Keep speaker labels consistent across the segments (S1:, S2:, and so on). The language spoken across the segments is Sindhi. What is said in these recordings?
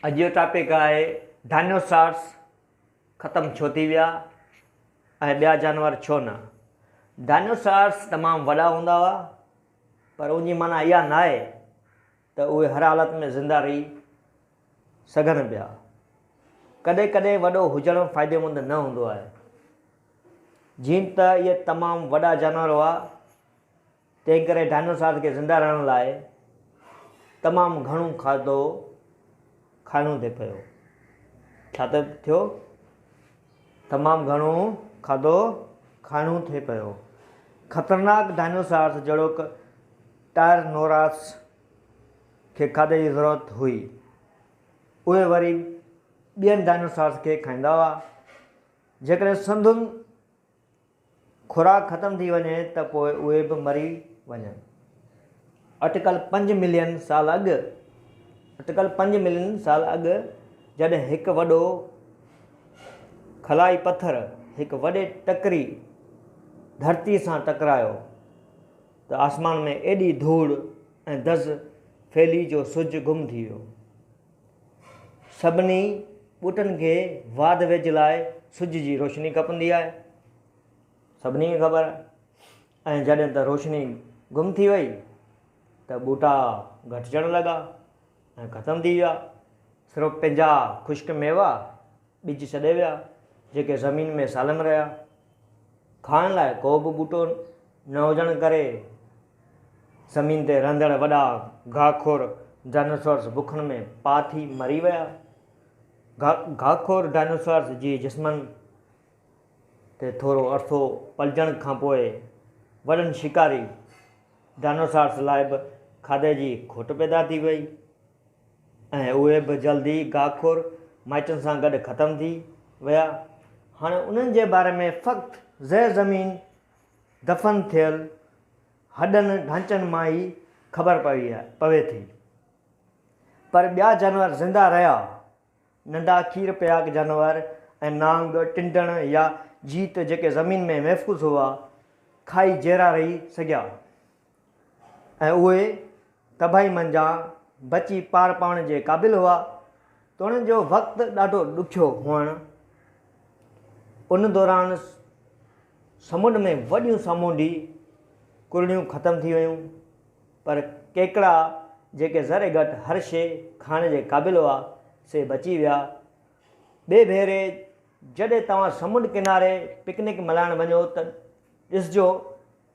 S1: اڄ جو ٽاپڪ آهي ڊائنوسارس ختم ڇو ٿي ويا ۽ ٻيا جانور ڇو نه ڊائنوسارس تمام وڏا هوندا هئا پر ان جي معنی اها نه آهي ته اهي هر حالت ۾ زنده رهي سگهن پيا ڪڏهن ڪڏهن وڏو هجڻ فائديمند نه هوندو آهي جيئن ته اهي تمام وڏا جانور هئا تنهنڪري ڊائنوسارز کي زنده رهڻ لاء تمام گهڻو کاڌو کائڻو ٿي پيو. ڇا ته ٿيو؟ تمام گهڻو کاڌو کائڻو ٿي پيو. خطرناڪ ڊائنوسارز جهڙوڪ ٽائرنوراس کي کاڌي جي ضرورت هئي. اهي وري ٻين ڊائنوسارز کي کائيندا هئا. جيڪڏهن سندن خوراڪ ختم ٿي وڃي ته پوء اهي به مري وڃن. اٽڪل پنج ملين سال اڳ اٽڪل پنج ملين سال اڳ جڏهن هڪ وڏو خلائي پٿر هڪ وڏي ٽڪري ڌرتي سان ٽڪرايو ته آسمان ۾ ايڏي ڌوڙ ۽ دز ڦهلي جو سج گم ٿي ويو. سڀني ٻوٽن کي واڌ ويجهه لاء سج جي روشني کپندي آهي. سڀني کي خبر آهي. ۽ جڏهن ته روشني گم ٿي وئي ته ٻوٽا گهٽجڻ لڳا ۽ ختم ٿي ويا. صرف پنهنجا خشڪ ميوا ٻج سڏي ويا، جيڪي زمين ۾ سالم رهيا. کائڻ لاء ڪو به ٻوٽو نه هجڻ ڪري زمين تي رهندڙ وڏا گاهه خور Dinosaurs بکن ۾ پاء ٿي مري ويا. گاهه خور Dinosaurs جي جسمن تي ٿورو عرصو پلجڻ کانپوء وڏن شڪاري Dinosaurs لاء به کاڌي جي کوٽ پيدا ٿي وئي. ۽ اهي به جلد ئي گاهخور مائٽن سان گڏ ختم ٿي ويا. هاڻي انهن جي باري ۾ فقط زير زمين دفن ٿيل هڏن ڍانچن مان ئي خبر پوي ٿي. پر ٻيا جانور زنده رهيا. ننڍا کير پياڪ جانور ۽ نانگ، ٽنڊڻ يا جيت جيڪي زمين ۾ محفوظ هئا، کائي جيئرا رهي سگهيا. ۽ اهي تباهي منجهان بچي پار پوڻ جي قابل هئا ته انهن جو وقت ڏاڍو ڏکيو هئڻ ان دوران سمنڊ ۾ وڏيون سامونڊي ڪرڙيون ختم ٿي ويون پر ڪيڪڙا جيڪي ذري گهٽ هر شي کائڻ جي قابل هئا سي بچي ويا ٻئي ڀيري جڏهن توهان سمنڊ ڪناري پڪنڪ ملهائڻ وڃو ته ڏسجو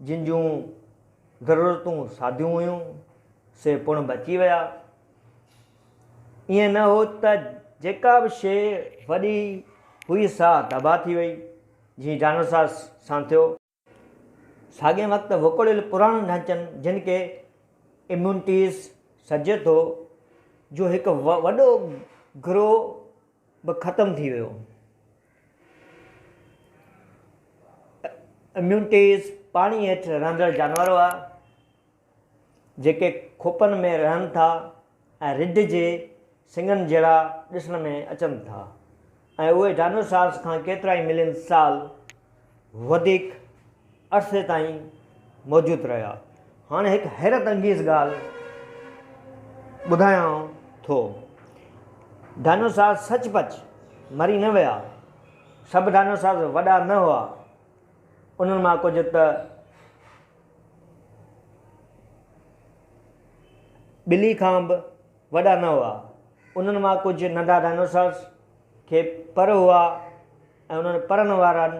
S1: جن جون ضرورتون ساديون هيون، سي پڻ بچي ويا. ائين نه هو ته جيڪا به شيء وڏي هئي سا تباهه ٿي وئي، جيئن ڊائناسار سان ٿيو. ساڳئي وقت وڪوڙيل پراڻن ڍانچن، جن کي اميونٽيز سڏجي ٿو، جو هڪ وڏو گروهه به ختم ٿي ويو. اميونٽيز پاڻي هيٺ رهندڙ جانور هئا، جيڪي کوپن ۾ رهن ٿا ۽ رڍ جي سڱن جهڙا ڏسڻ ۾ اچن ٿا ۽ اهي ڊائنوسارز کان ڪيترائي ملين سال وڌيڪ عرصي تائين موجود رهيا. هاڻي هڪ حيرت انگيز ڳالهه ٻڌايانء ٿو. ڊائنوسار سچ پچ مري نه ويا. سڀ ڊائنوسار وڏا نه هئا. انهن مان ڪجهه ته ٻلي کان به وڏا نه هئا. انهن مان ڪجهه ننڍا ڊائنوسار کي پر هئا. ۽ انهن پرن وارن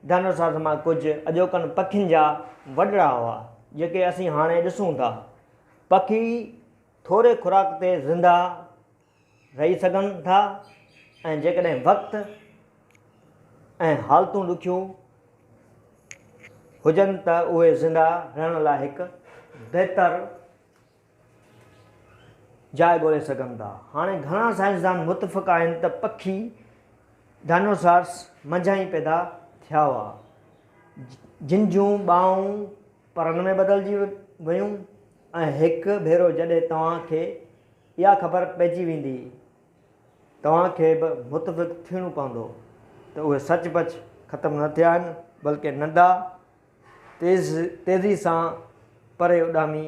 S1: ڊائنوسارز مان ڪجهه اڄوڪن پکين جا وڏڙا هئا، جيڪي اسين هاڻي ڏسون ٿا. پکي ٿوري خوراڪ تي زنده رهي سگهن ٿا ۽ جيڪڏهن وقت ۽ حالتون ڏکيون هجن ته اهي زنده رهڻ لاء هڪ بهتر جاء ڳولي سگهن ٿا. هاڻي گهڻا سائنسدان متفق آهن ته پکي، Dinosaurs، منجهان ئي پيدا ٿيا هئا، جن جون ٻانهون پرن ۾ بدلجي ويون ۽ هڪ ڀيرو جڏهن توهان کي اها خبر پئجي ويندي، توهان کي به متفق ٿيڻو پوندو ته اهي سچ پچ ختم نه ٿيا آهن، بلڪه ننڍا، تيز تيزي سان پري اڏامي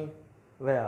S1: ويا.